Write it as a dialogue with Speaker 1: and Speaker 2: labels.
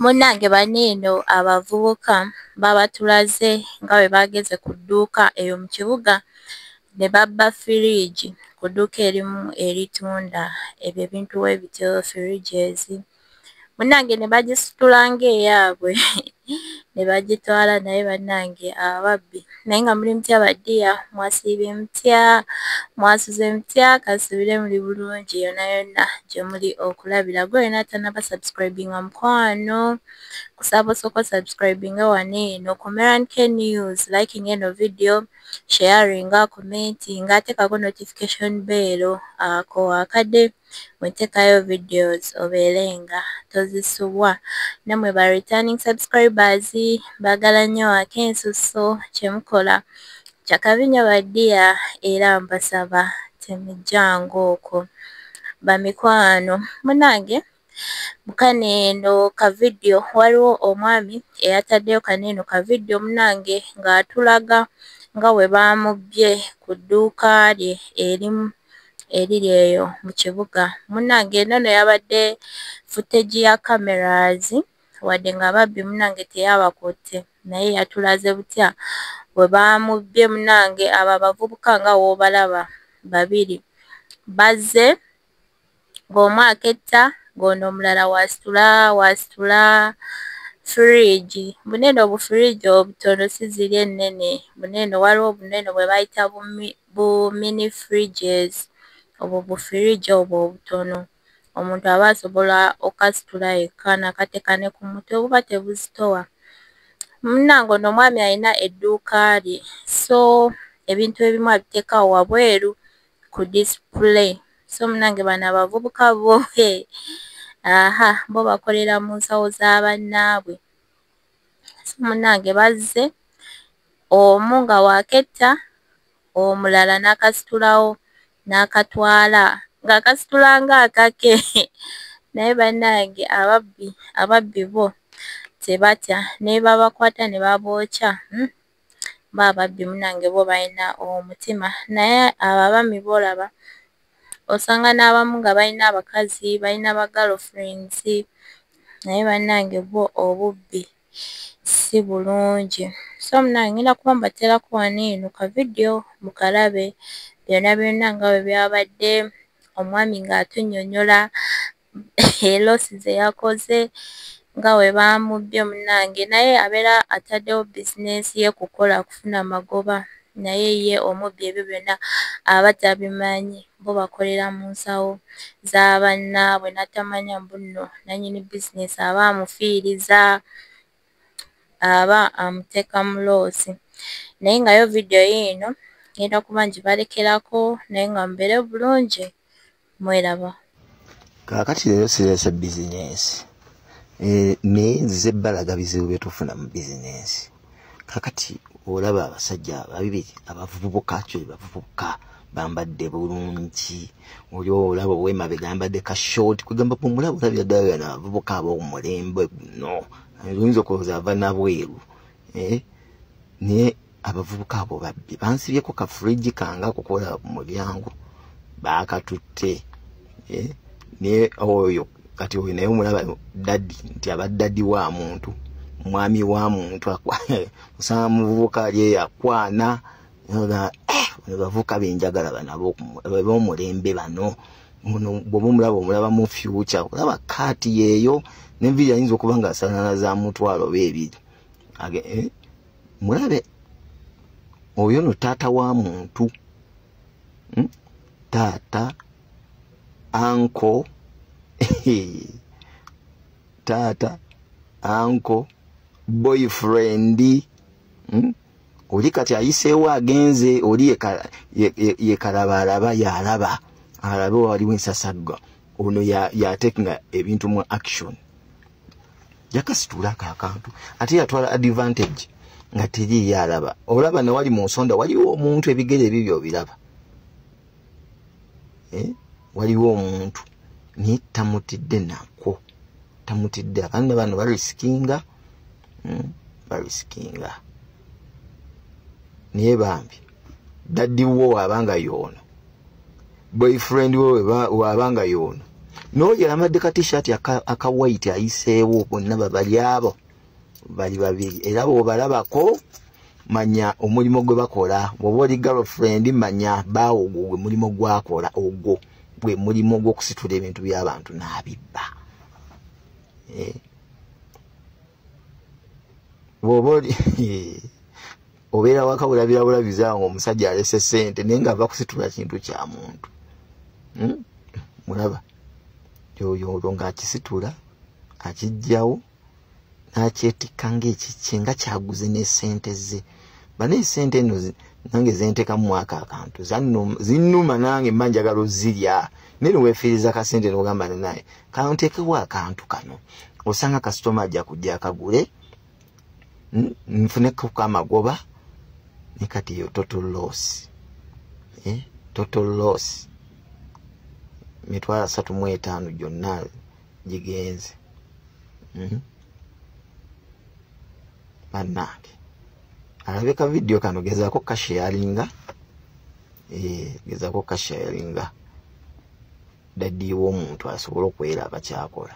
Speaker 1: Munnange bano eno abavubuka babatulaze nga bwe baageze ku dduuka eyo mu kibuga ne babba firiigi ku dduuka erimu eritunda ebyo ebintu bwe bityo firiigi ezi. Munnange ne bagisitula ng'eyaabwe ne bagitwala naye bannange ababbi naye nga muli mutya badiya mwasiibye mutya mwasuze mutya kasubire muli bulungi yona yona gye muli okulabira gwe yona atanaba subscribinga mukwano kusaba osooka osubscribinga wano eno ku merank news liking eno video sharinga commentinga atekako notification bell ako akade mwetekayo videos obeere nga tozisubwa namwe ba returning subscribers mbagala nnyo ate ensusso kyemukola kyakabi nnyo ba dia era mbasaba temujjanga okwo bamikwano munange mukano eno ka video waliwo omwami eyataddeyo kano eno ka video munange ng'atulaga nga bwe baamubbye ku dduuka lye erimu eriri eyo mu kibuga munnange eno no yabadde footage ya cameras wadde nga ababbi munnange teyabakutte naye yatulaze butya bwe baamubbye munnange abo abavubuka nga woobalaba babiri bazze ng'omu aketta ng'ono omulala w'asitula w'asitula firiigi mbune eno obufiriigi obutono si ziri ennene mbune eno waliwo obuno eno bwe bayita bu mini fridges obwo bufiriigi obwo obutono omuntu aba asobola okukasitula yekka n'akateeka ne ku mutwe buba tebuzitowa. Munnange ono omwami alina edduuka lye so ebintu ebimu abiteeka awo wabweru ku display so munange bano abavubuka bo aha bo bakolera mu nsawo za bannaabwe so munange bazze omu nga waaketta omulala n'akasitulawo n'akatwala ng'akasitula ng'akake naye banange ababbi ababbi bo tebatya nebabakwata ne babookya hmm? bo ababbi munange bo balina omutima naye abo abami boolaba osanga n'abamu nga balina abakazi balina ba girl friends naye bannange bwo obubbi si bulungi so munange ngenda kuba mbateerako wano eno ka vidiyo mukalabe byonna byonna nga bwe byabadde omwami ng'atunnyonnyola elosi ze yakoze nga bwe baamubbye munnange naye abeera ataddewo bizinensi ye kukola kufuna magoba naye ye omubbi ebyo byonna aba tabimanyi bo bakolera mu nsawo za bannaabwe n'atamanya mbu nno nannyini bizinensi aba amufiiriza aba amuteeka mu loosi naye nga yo vidiyo yiino ngenda kuba ngibalekerako naye nga mubeere bulungi. mweraba
Speaker 2: kaakati leero sireese bizinensi eh, naye nzize balaga bizibu byetufuna mu bizinensi kakati olaba abasajja ababiri abavubuka kyo bavubuka bambadde bulungi oli olaba owemabe gambadde ka short kwegamba omulaba olabira ddala yana abavubuka ab'omulembe no oyinza okulowooza ava nabweru eh, naye abavubuka abo babbi bansibyeko ka fridge kange akukola mu byangu baakatutte eh, naye oyo kati oyo naye omulaba dadi nti aba dadi wa muntu mwami wa muntu osanga muvubuka ali eyo akwana eh, bavubuka benjagala banabo bomulembe bano muno bwoba omulaba omulaba mu fyuca olaba kaati yeeyo nenviri ayinza okuba nga asanana za mutwalo beebiri age eh, mulabe oyo no taata wa muntu hmm? taata anko taata anko boyfriend hmm? oli kati ayiseewo agenze oli yekalabaalaba yalaba alabe waliwo ensasagga ono yatekinga ebintu mu action yakasituulako akantu ate yatwala advantage nga teriiyo alaba olaba newali mu nsonda waliwo omuntu ebigere ebibyo obiraba eh? waliwo omuntu naye tamutidde nako tamutidde abaana bano balisikinga hmm? balisikinga naye bambi daddiwo waabanga yoono boyfriend we waabanga yoono noyo yalamadde ka tishati aka white ayiseewo bonna babali abo bali babiri era bwobalabako manya omulimu gwe bakola bwoba oli girlfriend manya baawo ogwo gwe mulimu gwakola ogwo gwe mulimu ogwokusitula ebintu byabantu n'abibba eh. bwoba oli obeera waka bulabirabulabiza nga omusajja alese sente naye nga ava kusitula kintu kya muntu hmm? mulaba yoyo olwo ngaakisitula akijjawo n'akyetikka ngaekikye nga kyaguze n'esente ze bane sente eno nange zentekamu mwaka akantu zinuma nange mba njagala ozirya naye newefiiriza kasente nogamba ninaye kantekewo akantu kano osanga kasitoma ajja kujja akagule nfuneko kamagoba ne kati yo total loss eh? total loss mitwalo asatu mu etaano gyonna gigenze mm -hmm. bannange alabe ka vidiyo kano gezaako kasheyalinga eh, gezaako kasheyalinga daddiiwa omuntu asobole okwera abakyakola